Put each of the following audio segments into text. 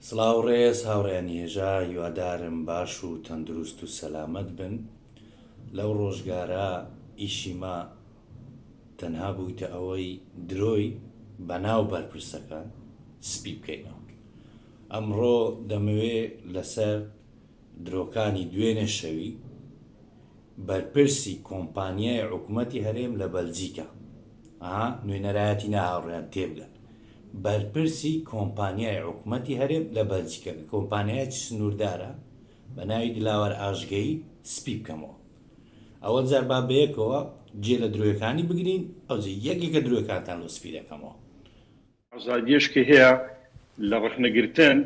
سڵاو ڕێز هاوڕێیانی هێژا هیوادارم باش و تەندروست و سەلامەت بن لەو ڕۆژگارە ئیشی ما تەنها بوویتە ئەوەی درۆی بەناو بەرپرسەکان سپی بکەینەوە ئەمڕۆ دەمەوێ لەسەر درۆکانی دوێنێ شەوی بەرپرسی کۆمپانیای عکومەتی هەرێم لە بەلجیکا ئا نوێنەرایەتی نا هاوڕێیان تێبگەن بەرپرسی کۆمپانیای عکومەتی هەرێم لە بەلجیکا کە کۆمپانیایەکی سنووردارە بە ناوی دلاوەر ئاژگەیی سپی بکەمەوە ئەوە جار با بەیەکەوە جێ لە درۆیەکانی بگرین ئەوجە یەکێکە درۆیەکانتان لۆ سپی دەکەمەوە. ئازادییەش کە هەیە لە ڕەخنە گرتن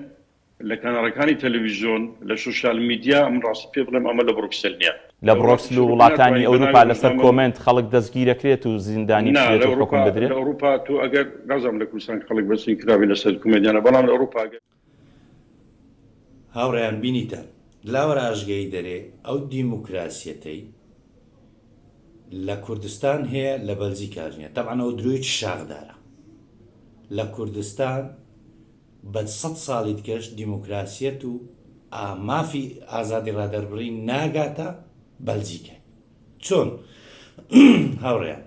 لە کەناڵەکانی تەلەویزیۆن، لە سۆشیال میدیا، من ڕاستی پێ بڵێم ئەمە لە بڕۆکسل نییە. لە بڕۆکسل و وڵاتانی ئەوروپا لەسەر کۆمێنت خەڵک دەستگیرەکرێت و زیندانی بکرێت و حوکم بدرێت؟ نا لە ئەوروپا، لە ئەوروپا تۆ ئەگەر نازانم لە کوردستان خەڵک بەستگیرکراوی لەسەر کۆمێنت یان نا بەڵام لە ئەوروپا ئەگەر. هاوڕێیان بینیتان لاوەراژگەی دەرێ ئەو دیموکراسیەتەی لە کوردستان هەیە لە بەلجیکاش نیە تەبعەن ئەو درۆیەکی شاخدارە لە کوردستان بە سەد ساڵی دکەش دیموکراسیەت و مافی ئازادی ڕادەربڕی ناگاتە بەلجیکای چۆن هاوڕێیان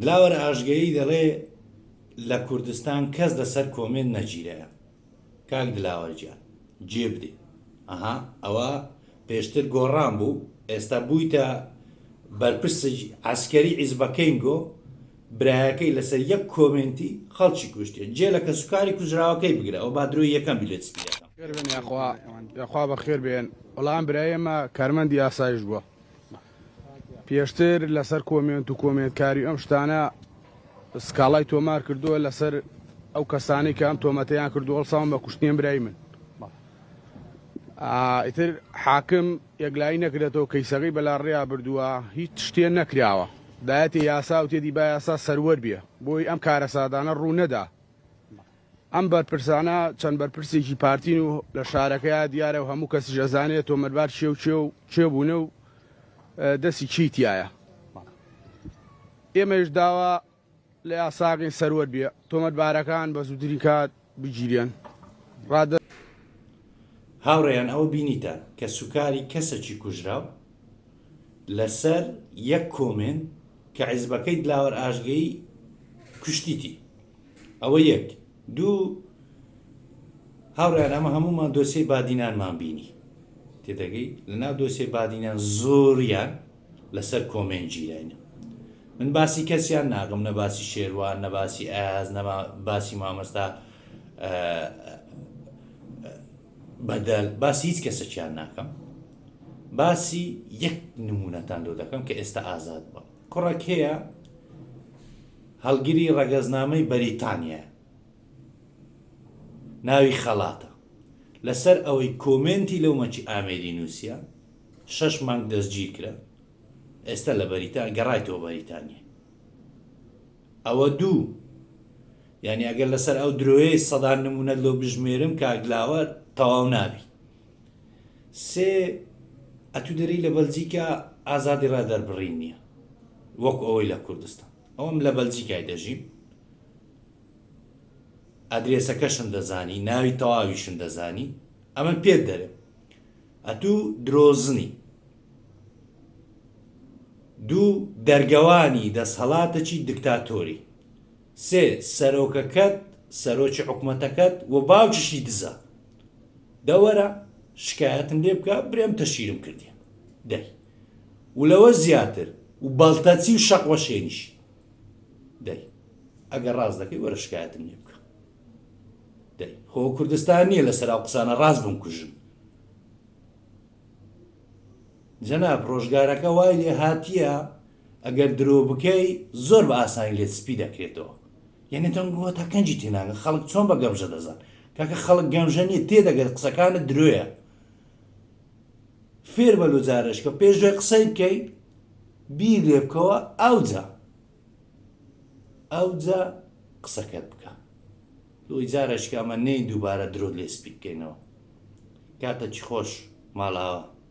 دلاوەر ئاژگەیی دەڵێ لە کوردستان کەس لەسەر کۆمێنت نەگیرایە کاک دلاوەر گیان جێ بدەی ئەها ئەوە پێشتر گۆڕان بوو ئێستا بوویتە بەرپرس عسکەری عیزبەکەین گۆ برایەکەی لەسەر یەک کۆمێنتی خەڵکی کوشتێ جێ لە کەسوکاری کوژراوەکەی بگرە ئەو با درۆی یەکەم بیلێت سپیەکەم یاخوا بەخێر بێن وەڵام برایەمە کارمەندی ئاسایش بووە پێشتر لەسەر کۆمێنت و کۆمێنتکاری ئەم شتانە سکاڵای تۆمار کردووە لەسەر ئەو کەسانی کە ئەم تۆمەتەیان کردو هەڵساون بە کوشتنیان برای من ئیتر حاکم یەکلایی نەکرێتەوە کەیسەکەی بەلا ڕێیا بردووە هیچ شتێ نەکراوە دایەتی یاسا و تێدی با یاسا سەروەر بێ بۆی ئەم کارە سادانە ڕوو نەدا ئەم بەرپرسانە چەند بەرپرسێکی پارتین و لە شارەکەیا دیارە و هەموو کەسیش ئەزانێت تۆمەربار چێ و چێ و چێ بوونە و دەستی چی تایە ئێمەش داوا لە یاساقین سەروەر بێ تۆمەتبارەکان بە زووترین کات بگیرێن ڕادە هاوڕێیان ئەوە بینیتان کە سوکاری کەسەکی کوژراو لەسەر یەک کۆمێنت کە حیزبەکەی دلاوەر ئاژگەیی کوشتیتی ئەوە یەک دوو هاوڕێیان ئەمە هەموومان دۆسیەی بادینانمان بینی تێدەگەی لە ناو دۆسیەی بادینان زۆریان لەسەر کۆمێنت گیراینە من باسی کەسیان ناگەم نە باسی شێروان نە باسی ئاز نەما باسی مامەستا بەدەل باسی هیچ کەسەکیان ناکەم باسی یەک نمونەتان لۆ دەکەم کە ئێستا ئازاد بە کوڕەک هەیە هەڵگری ڕەگەزنامەی بەریتانیا ناوی خەڵاتە لەسەر ئەوەی کۆمنتی لەو مەچی ئامێری نووسە شەش مانگ دەستگیر کرا ئێستا لە بەریتا گەڕایتەوە بەریتانیا ئەوە دوو یانی ئەگەر لەسەر ئەو درۆیەی سەدان نمونەت لۆ بژمێرم کاک لاوە تەواو نابی سێ ئەتو دەری لە بەلجیکا ئازادی ڕا دەربڕین نییە وەکو ئەوەی لە کوردستان ئەوم لە بەلجیکای دەژیم ئەدرێسەکەشم دەزانی ناوی تەواویشم دەزانی ئەمە پێت دەرێ ئەتوو درۆزنی دوو دەرگەوانی دەسهەلاتەچی دکتاتۆری سێ سەرۆکەکەت سەرۆکی حکومەتەکەت و باوکیشی دزە دە وەرە شکایەتم لێ بکە برێم تەشیرم کردیە دەی و لەوە زیاتر و بەڵتەچی و شەق وەشێنیشی دەی ئەگەر ڕاست دەکەی وەرە شکایەتم لێ بکە دەی خۆ کوردستان نییە لەسەر ئەو قسانە ڕاست بووم کوژن جەناب ڕۆژگارەکە وای لێ هاتیە ئەگەر درۆ بکەی زۆر بە ئاسانی لێت سپی دەکرێتەوە یعنی تەنگ بووە تا کەنجی تێناگە خەڵک چۆن بە گەمژە دەزان کاکە خەڵک گەمژە نیە تێدەگەر قسەکانت درۆیە فێر بە لوجارشکە پێش دوای قسەی بکەیت بیر لێ بکەوە ئەوجا ئەوجا قسەکەت بکە دوی جارەشکە ئەمە نین دووبارە درۆت لێ سپی بکەینەوە کاتەکی خۆش ماڵاوە.